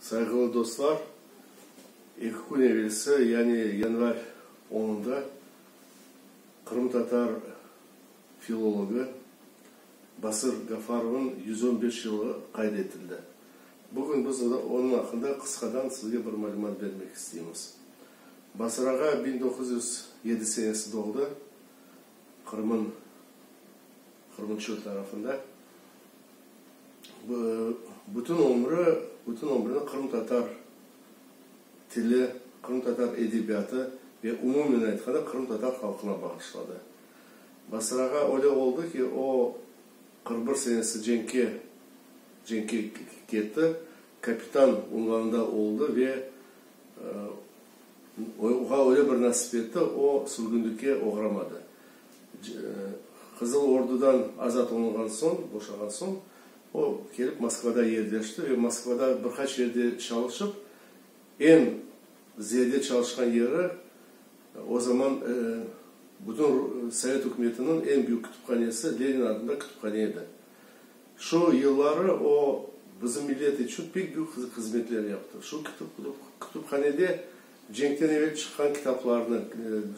Sayğılı dostlar, eki kün evelsi, yani yanvar onunda qırımtatar filologı Basır Gafarovnıñ yüz on beş yılı qayd etildi. Bugün biz onıñ aqqında qısqadan sizge bir malümat bermek isteymiz. Basır ağa biñ doquz yüz yedi senesi doğdı, Qırım'ın qırımçılı tarafında bütün ömrü, bütün ömrüni qırımtatar tili, qırımtatar edebiyatı ve umumen aytqanda qırımtatar halqına bağışladı. Basırağa öyle oldı ki, o, qırq bir senesi cenkke, cenkke ketti, kapitan unvanında oldı ve Oña öyle bir nasip etti, o, sürgünlikke oğramadı. Qızıl Ordudan azat olunğan soñ, boşağan soñ, o, kelip Moskvada yerleşti ve Moskvada bir qaç yerde çalışıp, eñ ziyade çalışqan yeri, o zaman bütün Sovet ükümetiniñ eñ büyük kütüphanesi, Lenin adında kütüphane edi. Şu yılları o, bizim millet içün pek büyük hızmetler yaptı. Şu kütüphanede cenkten evel çıqqan kitaplarnı,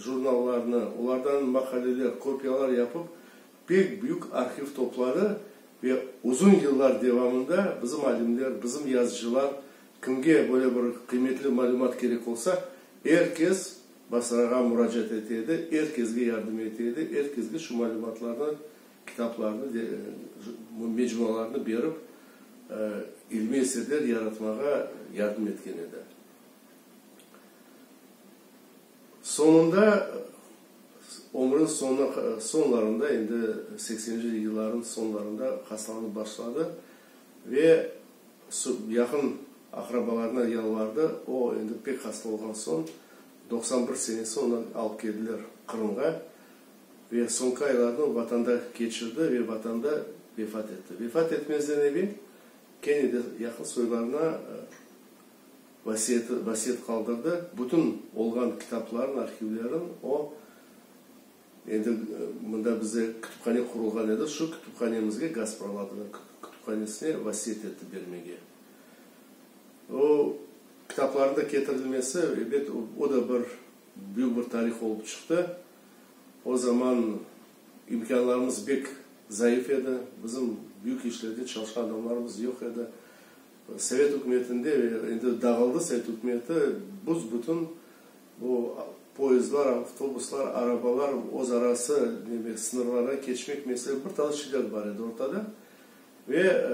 jurnallarnı, olardan maqaleler, kopiyalar yapıp, pek büyük arhiv topladı ve uzun yıllar devamında bizim alimler, bizim yazıcılar, kimge böyle bir qıymetli malümat kerek olsa, er kes Basrağa muracaat ete edi, er kesge yardım ete edi, er kesge şu malümatlarnı Kitaplarnı ve mecmualarnı berip, ilmiy eserler yaratmağa yardım etken edi. Soñunda, ömrüniñ soñuna, soñlarında, endi sekseninci yıllarınıñ soñlarında hastalanıp başladı ve yaqın aqrabalarına yalvardı. O, endi pek hasta olğan soñ, doqsan bir senesi onı alıp keldiler Qırımğa. ve soñki aylarını o Vatanda keçirdi ve Vatanda vefat etti. Vefat etmezden evel kene de yaqın soylarına vasiyeti, vasiyet qaldırdı, bütün olğan kitaplarını, arhivlerin o, endi mında bizde kütüphane qurulğan edi, şu kütüphanemizge, Gaspraladınıñ kütüphanesine vasiyet etti bermege. O kitaplarında ketirilmesi, elbet, o da bir büyük bir tarih olıp çıqtı. O zaman imkânlarımız bek zayıf edi, bizim büyük işlerde çalışqan adamlarımız yoq edi. Sovet ükümetinde, endi dağıldı sovet ükümeti, büs-bütün bu poyezdlar, avtobuslar, arabalar özarası demek, sıñırlardan keçmek mesele, bir tane şiddet bar edi ortada. Ve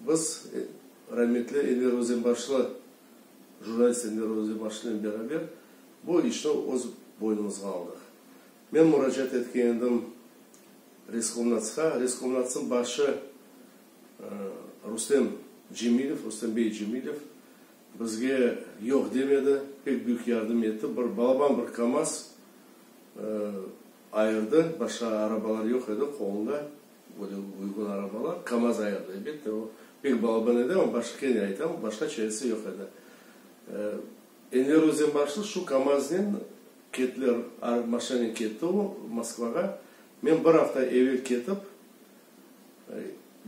biz rahmetli Enver Özenbaşlı, jurnalist Enver Özenbaşlınen beraber, Bu işni öz boynumızğa aldıq. Men muracaat etken edim Reskomnatsqa. Reskomnatsnıñ başı Rustem Cemilev, Rustem bey Cemilev, bizge yoq demedi, pek büyük yardım etti. Bir balaban bir KAMAZ ayırdı, başqa arabalar yoq edi qolunda, böyle uyğun arabalar. KAMAZ ayırdı, elbette, o pek balaban edi, ama başqa, kene aytam, başqa çaresi yoq edi. Enver Özenbaşlı şu KAMAZnen ketler, ar maşanen ketti o, Moskvağa. Men bir afta evel ketip,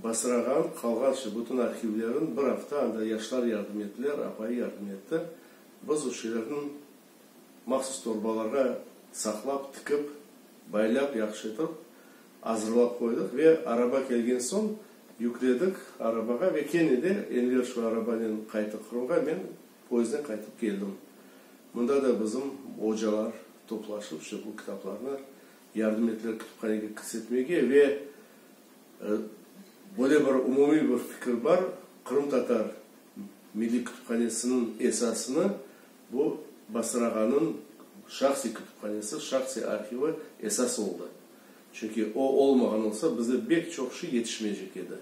basırağan, qalğanşe bütün arhivlerin, bir afta anda yaşlar yardım ettiler, apayı yardım etti. Biz o şeylerni mahsus torbalarğa saqlap, tikip, baylap, yahşı etip azırlap qoydıq ve araba kelgen soñ yükledik arabağa ve kene de Enver şu arabanen qayttı Qırımğa, men Poyezdden qaytıp keldim. Mında da bizim ocalar toplaşıp, işte bu kitaplarnı yardım ettiler kütüphanege kirsetmege ve böyle bir umumiy bir fikir bar, qırımtatar milliy kütüphanesiniñ esasını bu Basır ağanıñ şahsiy kütüphanesi, şahsiy arhivi esas oldı. Çünki o olmağan olsa, bizde bek çoq şey yetişmeycek edi.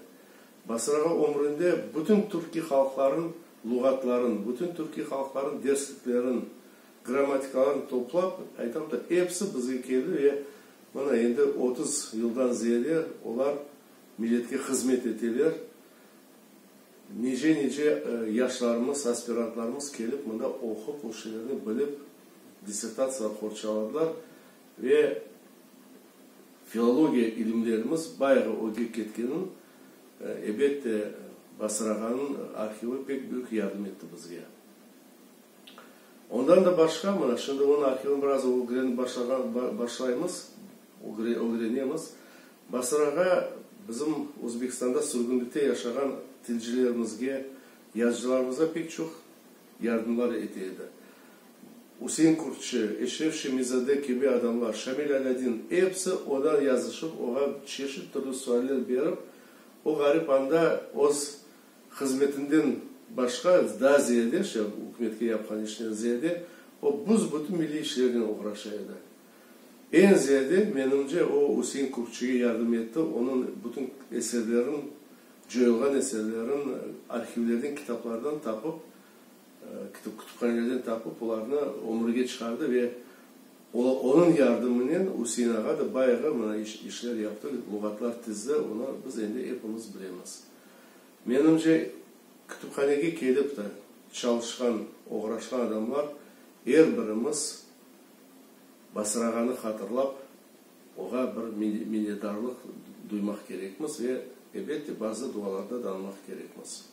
Basrağa ömründe bütün türkiy halqların luğatların, bütün türkiy halqların dersliklerin, grammatikaların toplap, aytam da, episi bizge keldi ve mına endi otuz yıldan ziyade olar milletke hızmet eteler. Nice-nice yaşlarımız, aspirantlarımız kelip mında oqup, o şeylerni bilip, dissertatsiyalar qorçaladılar ve, Filologiya ilimlerimiz bayağı öge ketkenin, ebet de, Basırağanıñ arhivi pek büyük yardım etti bizge. Ondan da başqa, mına, şimdi onıñ arhivini biraz ögrenip başlağan, başlaymız, ögrenemiz. Basırağa bizim Özbekistanda sürgünlikte yaşağan tilcilerimizge, yazıcılarımızğa pek çoq. yardımlar ete edi. Üsein Kürtçi, Eşref Şemizade kibi adamlar, Şamil Alâdin, episi odan yazışıp, oğa çeşit türlü sualler berip, o ğarip anda öz hızmetinden başqa, daa ziyade, şey, ükümetke yapqan işinden ziyade, o büs-bütün milliy işlernen oğraşa edi. Eñ ziyade, menimce, o Üsein Kükçige yardım etti, onıñ bütün eserlerin, coyulğan eserlerin arhivlerden, kitaplardan tapıp, kütüphanelerden tapıp, olarnı ömürge çıqardı ve onıñ yardımınen Üsein ağa da bayğı mına işler yaptı, luğatlar tizdi, onı biz endi epimiz bilemiz. Menimce, kütüphanege kelip de çalışqan, oğraşqan adamlar er birimiz, basırağanı hatırlap, oğa bir minedarlıq duymaq kerekmiz ve, elbette, bazı dualarda danmaq kerekmiz.